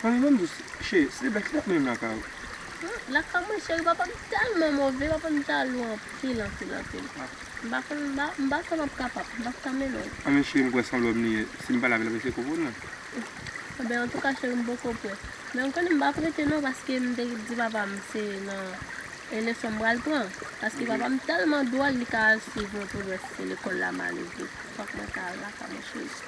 Fanm banm jus cheri sil te plè kite lap mennen m lakay ou. Lakay mwen cheri papa m tèlman move papa m jalou anpil anpil anpil m pa konn m pa konn ap kapab m pap ka mennen w. Anmweyy cheri m kwè se yon lòm li ye sim pale avèl lap eseye konprann mwen. Ebyen antouka cheri m poko prè men ou konnen m pap rete non paske m te di papa m se nan e leson m pral pran paske papa m tèlman dwòl li ka al swiv mwen pou l wè si se lekòl la mal ouvri fòk mwen ta al lakay mwen cheri.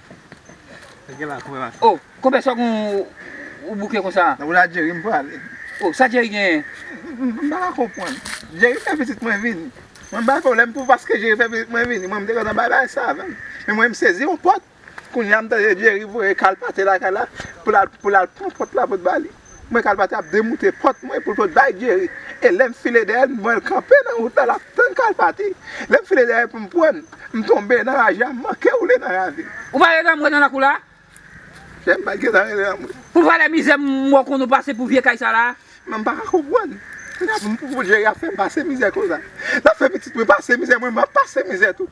Oh konbyen sòk ou bouke konsa. Nan pou la Jerry m prale. Oh sa Jerry genyen. M pa ka konprann. Jerry fè pitit mwen vini. Mwen bay pwoblèm pou paske Jerry fè pitit mwen vini. Mwen m te gentan bay bagay sa avan. Men mwen m sezi yon pòt. Kounya m tande Jerry voye Carl pate lakay la pou l al pran pòt la pou l ba li. Mwen kal pati ap demoute pòt mwen pou l pot bay Jerry. E lè m file dèyè l, m wè l kanpe nan wout la, l ap tann kal pati. Lè m file dèyè pou m pran l, m tonbe nan raje a, m manke woule nan ravin. Ou pa wè lanmwe nan lakou la? Chè m pa t gen tan rele lanmwe. Pou valè mizè m wè w konn ou pase pou vye kay sa la a? Men m pa ka konprann. Pou Jerry ap fè m pase mizè konsa. L ap fè pitit mwen pase mizè, mwen menm m ap pase mizè tou.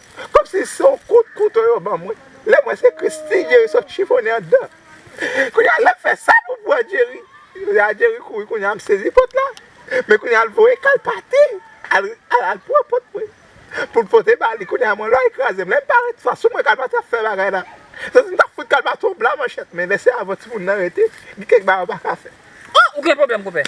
Komsi se yon kout kouto yo banm wi. Lèm wè se Christie Jerry sot chifonnen andan. Kounya lèm fè sa pou pran Jerry. Lè a Jerry kouri kounya m sezi pot la. Men kounya l voye kal pati al pran pot mwen poul pote ba li. Kounya mwen lwa li krazem. Lèm parèt fas ou mwen kal pati ap fè bagay la. Se sim tap fout kal pati yon bla manchèt men lè se avan timoun nan rete gen kèk bagay ou paka fè. Ou gen pwoblèm konpè.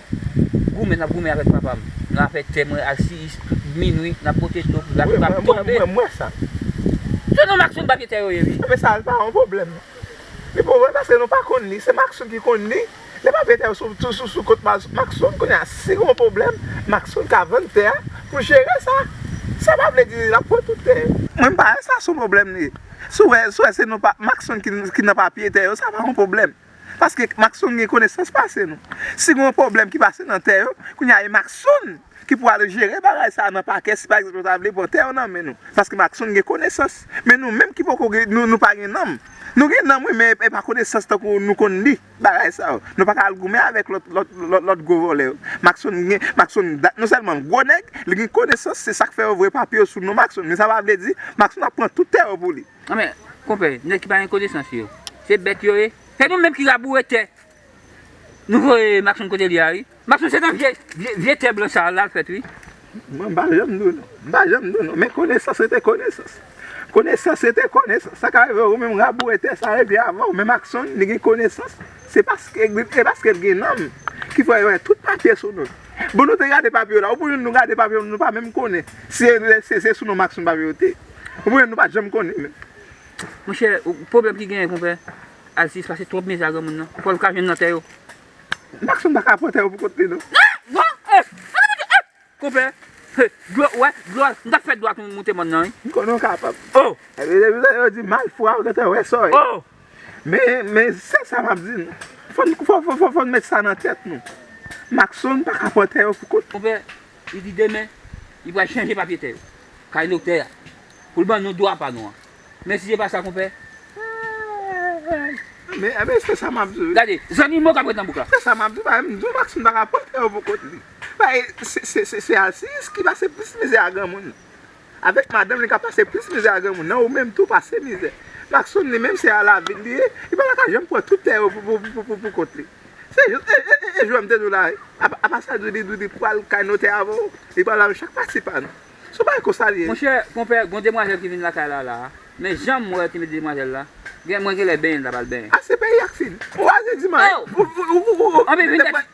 Goumen nap goumen avèk papam nan afè tè mwen ak si is tout minwi nap pote dlo pou zafè pap tonbe. Mwen mwen sa. Se non Mackson papye tè yo ye wi. Anben sa pa yon pwoblèm. Li pa wè paske nou pa konn li se Mackson ki konn li. Lè papye tè yo sou kont Mackson kounye a si gon pwoblèm Mackson ka vann tè a pou jere sa. Sa pa vle di lap pran tout tè. Mwen pa wè sa sou pwoblèm li. Si w wè se nou pa Mackson ki nan papye tè yo sa pa yon pwoblèm. Paske Mackson gen konesans pase nou. Si gen yon pwoblèm ki pase nan tè yo, kounye a e Mackson ki pou ale jere bagay sa a nan pakè si pa egzanp yo ta vle pran tè yo nan men nou. Paske Mackson gen konesans. Men nou menm ki poko gen, nou pa gen nanm. Nou gen nanm wi men e pa konesans tankou nou konn li bagay sa yo. Nou pa ka al goumen avèk lòt, lòt, lòt gwo vòlè yo. Mackson gen, Mackson da, non sèlman gwo nèg, li gen konesans se sa k fè yo voye papye yo sou non Mackson men sa pa vle di Mackson ap pran tout tè yo pou li. Nan men konpè nèg ki pa gen konesans yo. Se bèt yo ye. Se nou menm ki raboure tè nou voye Maxon kote li a wi. Maxon se nan vye tè blan sa la l fèt wi. Mwen m pa janm di w non. M pa janm di w non. Men konesans rete konesans. Konesans rete konesans. Sa ka rive ou menm raboure tè sa epi avan w men Maxon li gen konesans. Se paske e paske l gen nanm ki fè yo wè tout papye sou nou. Bon nou te gade papye yo la. Ou pou nou gade papye yo nou pa menm konnen se sou non Maxon papye yo te. Konprann nou pa janm konnen men. Monchè pwoblèm ki genyen konpè Alsis pase twòp mizè a granmoun nan fòl ka jwenn nan tè yo. Maxon paka pran tè yo pou kont li non. Konpè dlo wè dlo al mtap fè dlo a moute mòn nan wi. M konnen w kapab. Epi yo di malfra ou gentan wè sa wi. Men se sa map di nou. Fòn nou met sa nan tèt nou. Maxon paka pran tè yo pou kont li. Li di demen, li pral chanje papye tè yo, kay noktè a, pou l ban nou dwa pa nou an. Men si se pa sa konpè, aayy! Men, men se sa m ap di w. Gade, zanmi mo k ap ret nan bouk la. Se sa m ap di w, bagay m di w, Maksim pa ka pran tè yo pou kont li. Bagay, se, se, se, se alsiyis ki pase plis mizè a granmoun. Avèk madanm li ka pase plis mizè a granmoun nan ou menm tou pase mizè. Pacson li menm se a la vil li ye, li pa ta ka janm pran tout tè yo pou kont li. Se jis e jwèm te di w la wi, apa sa Dudi di li pral kay notè avan ou, li pral avèm chak pati pa nou. Son bagay konsa li ye wi. Monchè konpè gon demwazèl ki vin lakay la la a, men janm wè ki met demwazèl la, gen mwen genlè benyen li ta pral benyen. Ase peyi a k fin. Ou aze di man. Ou anpil vitès.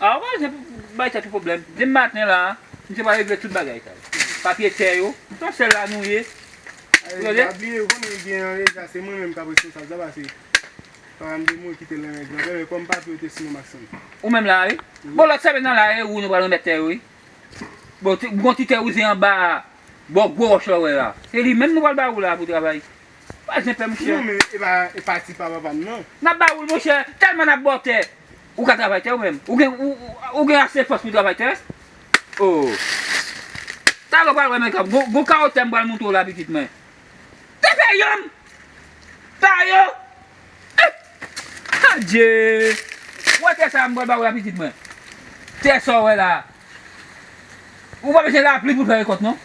Ah ok se pou bay tèt ou pwoblèm. Demen maten la a, misye pral regle tout bagay sa yo. Papye tè yo, se yon sèl la nou ye. Ou tande? Epa bliye ou konnen byen an deja se mwen menm kap responsab sa pase pa m se mwen ki te lan règ lan. Dayè kòm papye yo te sou nom ak san. Ou menm la a wi. Bon lòt sèmen nan la a e ou nou pral remèt tè yo wi. Bon ti gon ti tè wouze anba bò gwo wòch la ou wè a. Se li menm nou pral ba ou la a pou travay. Pa zen pè monchè. Non men e pa ti pa papa m nan. Nap ba ou l monchè, tèlman nap ba w tè. Ou ka travay tè ou menm. Ou gen ou gen ase fòs pou travay tè? Oo. Talè ou pral wè men kap gon kawo tè m pral montre w la pitit mwen. Te fè yonn! Sa yo! Epp! Adjee! Wè tè sa a m pral ba ou la pitit mwen. Tè sa w wè la a. Ou pa bezwen lapli pou fè rekòt non.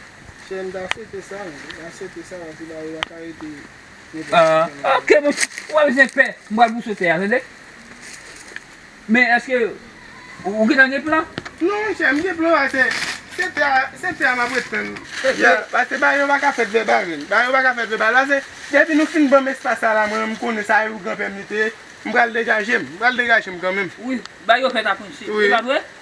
Chè m ta swete sa, m ta swete sa paske ba yo paka rete nenpòt ki jan nan peyi. Ok monchè, ou pa bezwen pè, m pral bouse w tè a tande. Men èske ou gentan gen plan? Non monchè, m gen plan pase se tè a, se tè a m ap ret tann. Pase ba yo paka fèt vèbal menm, ba yo paka fèt vèbal pase depi nou fin ban m espas sa la mwen menm m konnen sa yo granpè m li te ye, m pral degaje m, m pral degaje m kanmenm. Wi, ba yo fèt a prinche, e pa vre?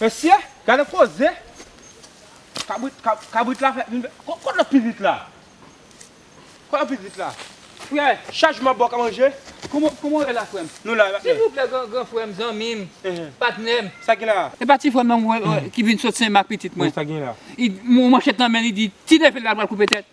Mesye gade koze kabrit kabrit la fè vin kot lòt pitit la kot lòt pitit la frè chajman bò ka manje kòman kòman ou ye la frèm nou la silvouplè gran gran frèm zanmim patnèm sa gen la e pa ti frèm nan ki vin sot senmak pitit mwen sa gen la li gen manchèt nan men li di ti nève la pral koupe tèt.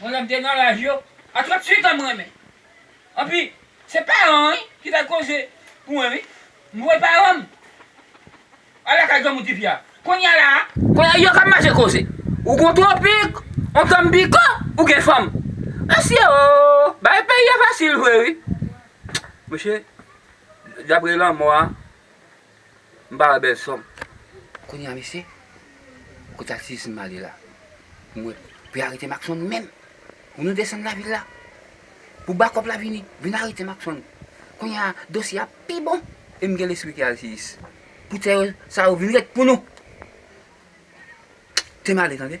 Mwen lèm te nan laj yo a 38 an m renmen anpi se paran wi ki fè koze pou mwen wi m voye paran m al lakay granmoun tifi a kounya la a. Konya yo kap mache koze ou gon tropik on tanbiko ou gen fanm mesye oo bagay peyi a fasil vre wi mesye dapre lanmò a. M pa wè bèl sò m. Kounya mesye, kote aktivis m m ale la? M wè pou y arete Maxon menm. Pou nou desann lavil la. Pou bakòp la vini. Vin arete Maxon. Kounya a, dosye a pi bon. E m gen lespri ki aktivis. Pou tè yo sa yo vin ret pou nou. Te m ale tande.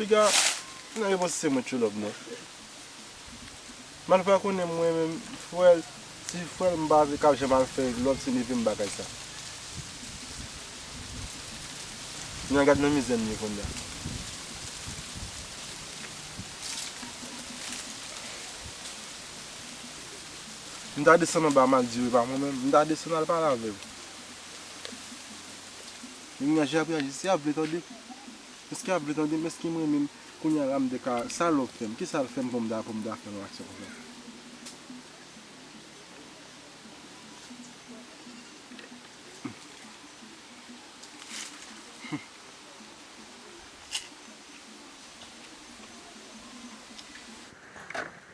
Piga nan yo panse se mwen tchou lòb nan. Mal pa konnen mwen menm fwèl ti fwèl m pa vle kap janm al fè lòb se neve m bagay sa. Nan gad nan mizè m ye konnya. M ta desann anba maldive pa mwen menm, m ta desann al pale avè l. Menm jan Jay ap reyaji, si yap vle tande m, èske yap vle tande m, èske m renmen m, kounye a la m te ka, sa Love fè m, kisa l fè m pou m ta pou m ta fè yon aksyon konsa?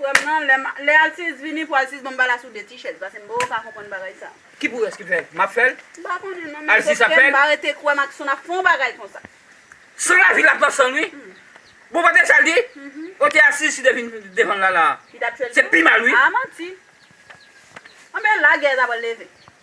Frèm nan lèm lè alcius vini pou alcius banm balas ou 2 ti chèz pasem boo pa konprann bagay sa. Ki pou rès ki fèl? Map fèl? Mpa konnen non men Alcius ap fèl? Mpa rete kwè Maxon ap fon bagay konsa. San lavi lap nan sanl wi. Bon pa te sal di? Kote Alcius si te vin devan Lala a? Li tap tchwel tou? Se pi mal wi. Ah manti. Anben la gè ta pral leve.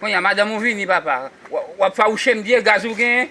Konnya madanm ou vini papa wap fawouchem byen gaz ou gen.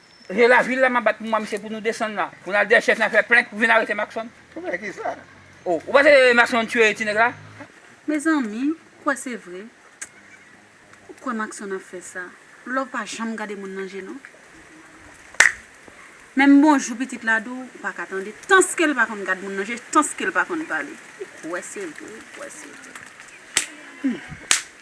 Se la vil la map bat pou mwen mesye pou nou desann la pou nal dèyè chèf nal fè plent pou vin arete Maxon. Plent ki sa? Oh ou pa se Maxon tuye ti nèg la? Mezanmi kwè se vre ou kwè Maxon ap fè sa love pa janm gade moun nan je non menm bonjou pitit la di w ou paka tande tanske l pa konn gad moun nan je tanske l pa konn pale ou kwè se vre ou kwè se vre humm.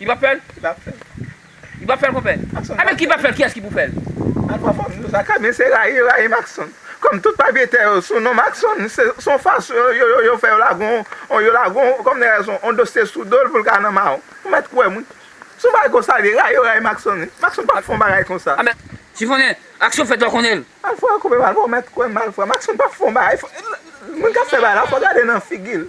Li pap fèl? Li pap fèl. Li pap fèl konpè? Maxon pap fèl. Ebyen ki pap fèl kiyès ki pou fèl? Al pran fanm nou sa ka men se rayi yo rayi Maxon. Kòm tout papye tè yo sou non Maxon se son fason yo yo yo fè yo lage on yo lage on kòm nèg la se on dosye sou dol poul ka nan mawon. Ou mèt kwèm wi. Son bagay konsa li rayi yo rayi Maxon wi. Maxon pap fon bagay konsa. Amè si konnen aksyon fèt lè w konnenl. Malfra konpè malfra ou mèt kwèm malfra Maxon pap fon bagay moun kap fè bagay la fò gade nan figil.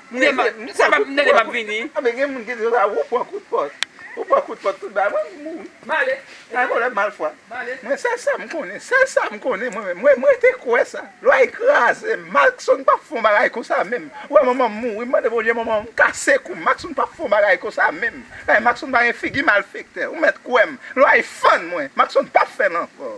Mnde map sa map mnde map vini. Anben gen moun ki di konsa wou pran kout pòt. Wou pran kout pòt tout bagay wap mouri. Male. Sa volè mal fwa. Male. Mwen sèl sam konnen sèl sam konnen mwen menm mwen rete kwè sa lwa e krazem malksonn pap fon bagay konsa menm ou wè manmanm mouri m mande bondye manmanm kase koum malksonn pap fon bagay konsa menm paske malksonn pa gen figi malfektè ou mèt kwèm lwa e fann mwen malksonn pap fèl ankò.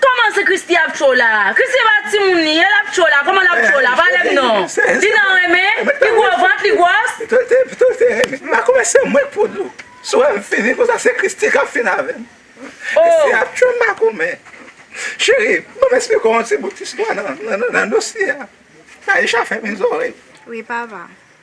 Koman se Christie ap cho la. Christie pa ti moun li ye lap cho la koman lap cho la pa lèm non li nan renmen li gro vant li gwòs. Mpa konprann se mwen k pou dlo sou wèm fini konsa se Christie kap fin avèm Christie ap tchwem mpa konprann Cheri banm esplike w yon ti bout istwa nan dosye a Taïsha fèmen zòrèy. Wi papa.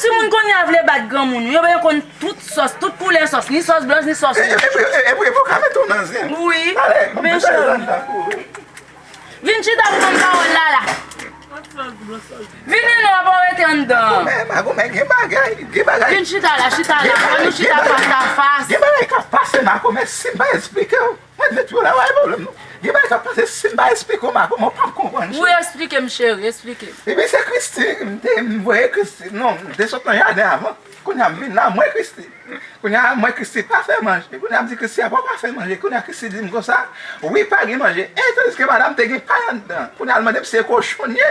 Timoun kounye a vle bat granmoun wi, yo konn tout sòs, tout koulè sòs, ni sòs blanch ni sòs wouj. Mwen vle tro la bay problem non. Gen bagay kap pase sim pa esplike w ma kòman w pap konprann cheri. Wi esplike m cheri esplike m. Epi se Christy m te m voye Christy non m te sot nan jaden avan kounya m vin la m wè Christy kounya m wè Christy pa fè manje kounya m di Christy a bon pa fè manje kounya Christy di m konsa wi pa gen manje e tandiske madam te gen pay anndan kounya l mande m si e kochon l ye.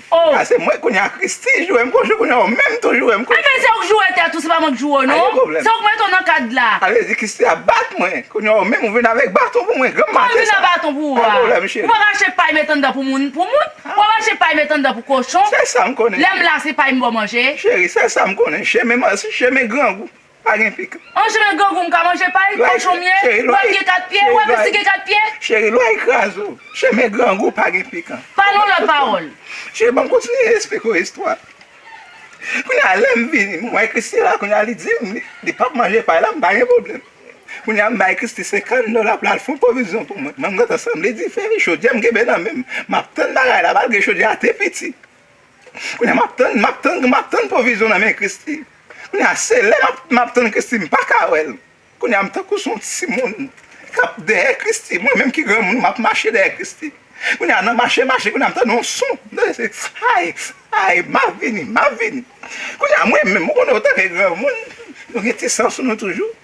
Oh. Ah se mwen kounya Christie joure m kou jwe kounya ou menm tou joure m kou jwe. Ebyen se ou k joure tèt ou se pa mwen k joure w non. Ayo pwoblèm. Se ou k mete w nan kad la. Sa vle di Christie ap bat mwen kounya ou menm ou vin avèk baton pou mwen granm mate sa. Sa m vin ak baton pou ou a. Ayo pwoblèm cheri. Ou pa ka achte pay met anndan pou moun pou moun. Ou pa ka achte pay met anndan pou kochon. Se sa m konnen cheri. Lè m la se pay m ba w manje. Cheri se sa m konnen chemen grangou. Pa gen fi k. Manje men grangou m ka manje pay, kochon m ye, lwa m gen 4 pye, ou wè plis li gen 4 pye. Cheri lwa yi kraz ou. Che men grangou pa gen pikan. Pa non lòt pawòl. Cheri banm kontinye esplike w istwa. Kounye a lè m vini m wè Christie la kounye a li di m li pap manje pay la m pa gen pwoblèm. Kounye a m bay Christie 50 dola pou l al fon pwovizyon pou mwen. Mwen m gentan sanble dife, chodyè m kenbe nan men m. M ap tann bagay la malgre chodyè a te piti. Kounya map tann map tann map tann pwovizyon nan men Christy kounya se lè map tann Christy m paka wèl kounya m tankou son timoun kap dèyè Christy mwen menm ki granmoun map mache dèyè Christy kounya nan mache mache kounya m tande yon son m tande se ayy ayy map vini map vini kounya mwen menm ou konnen ou tanke granmoun nou gen ti san sou nou toujou.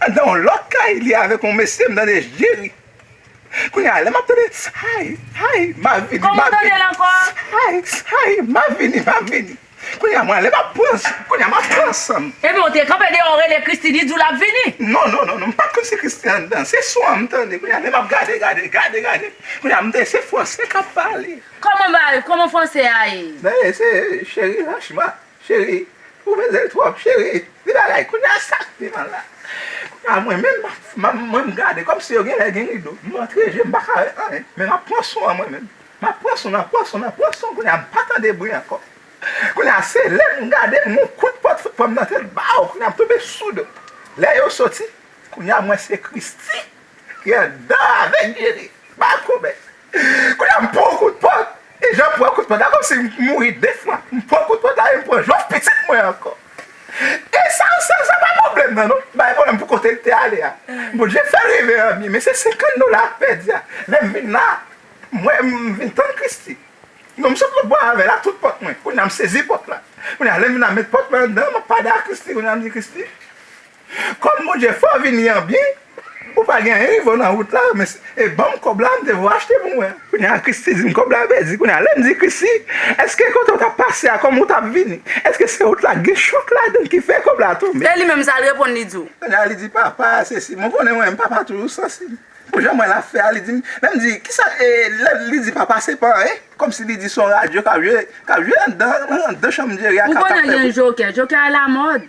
Andan yon lòt kay li avèk yon mesye m tande Jerry kounye a lè map tande Saayy saayy ma vini Kòman ou tandel ankò a? Saayy saayy ma vini ma vini kounye a mwen ale map pran san kounye a map pran san m. Ebyen ou te kanpe deyò ou rele Christie li diw lap vini? Non non non non m pat konn si Christie andan se son an m tande kounye a lè map gade gade gade gade kounye a m tande se fransè kap pale. Kòman bagay kòman fransè a ye? Nan e se Cheri Rachma Cheri ou bel trop cheri li bagay kounya sak piman la kounya mwen menm map mwen m gade komsi yo genlè gen rido m antre jem paka wè anyen men map pran son an mwen menm map pran son nan pran son nan pran son kounya m pa tande bri ankò kounya se lèm gade m gon kout pot fout pranm nan tèt baw kounya m tonbe soud lè yo soti kounya m wè se Christie ki andan avèk Jerry bako men kounya m pran yon kout pot E jan pran kout panta komsi m mouri 2 fwa m pran kout panta e m pran jwèt pitit mwen ankò e sa sa pa pwoblèm nan non bay pwoblèm pou kote l te ale a Bondye fè l rive an byen men se 50 dola m pèdi a lè m vin la m wè m vin tann Christy non m sot lòtbò avè l ak tout pòt mwen kounye a m sezi pòt la kounye a lè m vin la m met pòt mwen anndan m ap pale ak Christy kounye a m di Christy Kòm Bondye fè w vini an byen, ou pa gen anyen rive w nan wout la, men e ban m kòb la m te vle w achte pou mwen an. Kounye a Christie di m kòb la pèdi, kounye a lè m di Christie, èske kote w t ap pase a kòm ou t ap vini, èske se wout la gen chòk ladan l ki fè kòb la tonbe? E li menm sa l reponn li di w? Kounye a li di papa a sesi, mwen konnen ou renmen papa a toujou sansib, pou jan m wè l ap fè a, li di m, lè m di kisa e lè li di papa se pa anyen, kòm si li di se yon radyo k ap jwe, k ap jwe anndan, anndan chanm Jerry a k ap fè bri. Ou konnen gen jokè, jokè a lamòd,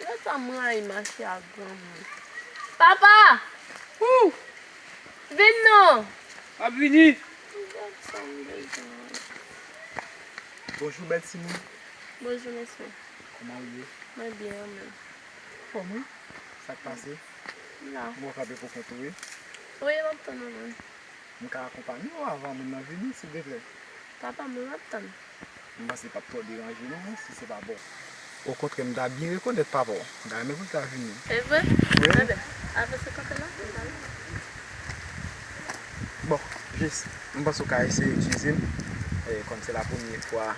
Lè sa m rayi mache ak granmoun. Papa! Hoo! Vin non! M ap vini! M gen sa m bezwen. Bonjou bèl timoun. Bonjou mesye. Kòman ou ye? Mwen byen ou menm? Ou anfòm wi. Sa k pase? M la. Bon w kanpe pou kont ou wi? Wi m ap tann ou menm. M ka akonpanye ou avan moun nan vini sildeplè? Papa m la m ap tann. M panse li pap twò deranje nou non si se pa pa w. Okontrè m ta byen rekonèt papa w. M ta renmen pou l ta vini. Se vre? Enben, avese kanpe la, m pral la. Bon, jis, m panse w ka eseye eskize m, kòm se la premye fwa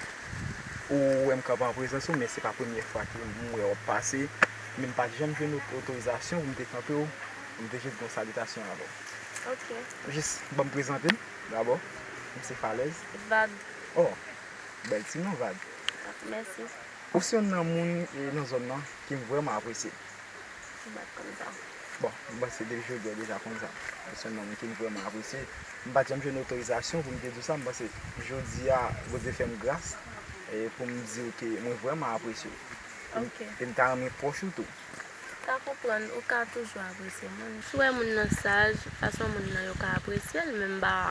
ou wè m kanpe an prezans ou, men se pa premye fwa ke m wè w pase, men m pa t janm jwenn otorizasyon pou m te kanpe w, pou m te jis di yon salitasyon avè w. Ok. Jis, ban m prezante m, dabò. M se Falèz. Vag. Oh! Bèl ti non vag. Mèsi. Ou se yonn nan moun nan zòn nan ke m vrèman apresye. Ou bat konn sa. Bon, m panse depi jodi a ou deja konn sa. Ou se yonn nan moun ke m vrèman apresye. M pa t janm jwenn otorizasyon pou m te di w sa, m panse jodi a Bondye fè m gras pou m di w ke mwen vrèman apresye w. Ok. E m ta renmen pwòch ou tou. M ka konprann. Ou ka toujou apresye moun. Si w wè moun nan saj, fason moun nan yo ka apresye l menm ba.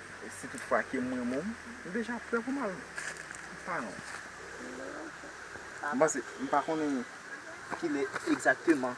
E si tout fwa ke m renmen w, m deja prè pou m al paran w. M panse, m pa konnen ki lè egzakteman.